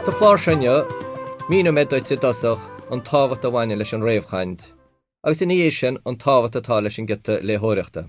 Sa chlár seo inniu, míneoidh mé duit i dtosach an tábhacht a bhaineann leis an réamhchaint agus, ina dhiaidh sin, an tábhacht atá leis an giota léitheoireachta.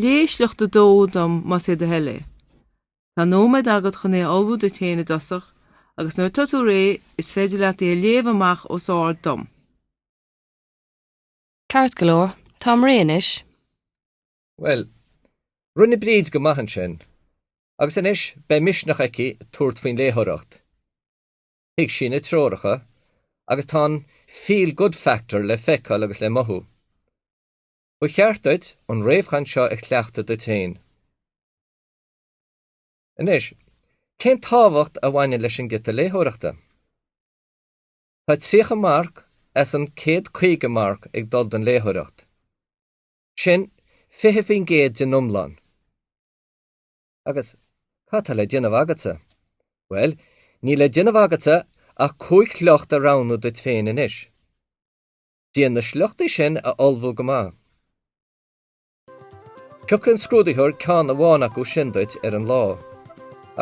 Léigh sliocht a dó dom más é do thoil é. Tá nóiméad agat chun é a ullmhú duit féin i dtosach agus nuair atá tú réidh, is féidir leat é a léamh amach os ard dom. Ceart go leor, táim réidh anois. Bhuel, rinne Bríd go maith ansin, agus anois beidh misneach aici tabhairt faoin léitheoireacht. Thuig sí na treoracha agus tá an 'feel good factor' le feiceáil agus le mothú. Ba cheart duit an réamhchaint seo a chleachtadh duit féin. Anois, cén tábhacht a bhaineann leis an giota léitheoireachta? Tá 30 marc as an 150 marc ag dul don léitheoireacht. Sin 20% den iomlán. Agus, cad tá le déanamh agatsa? Bhuel, níl le déanamh agatsa ach cúig shliocht a roghnú duit féin anois. Déan na sliochtaí sin a ullmhú go maith. Piocfaidh an scrúdaitheoir ceann amháin acu sin duit ar an lá,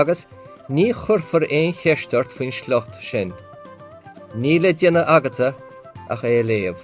agus ní chuirfear aon cheist ort faoin sliocht sin. Níl le déanamh agatsa ach é a léamh.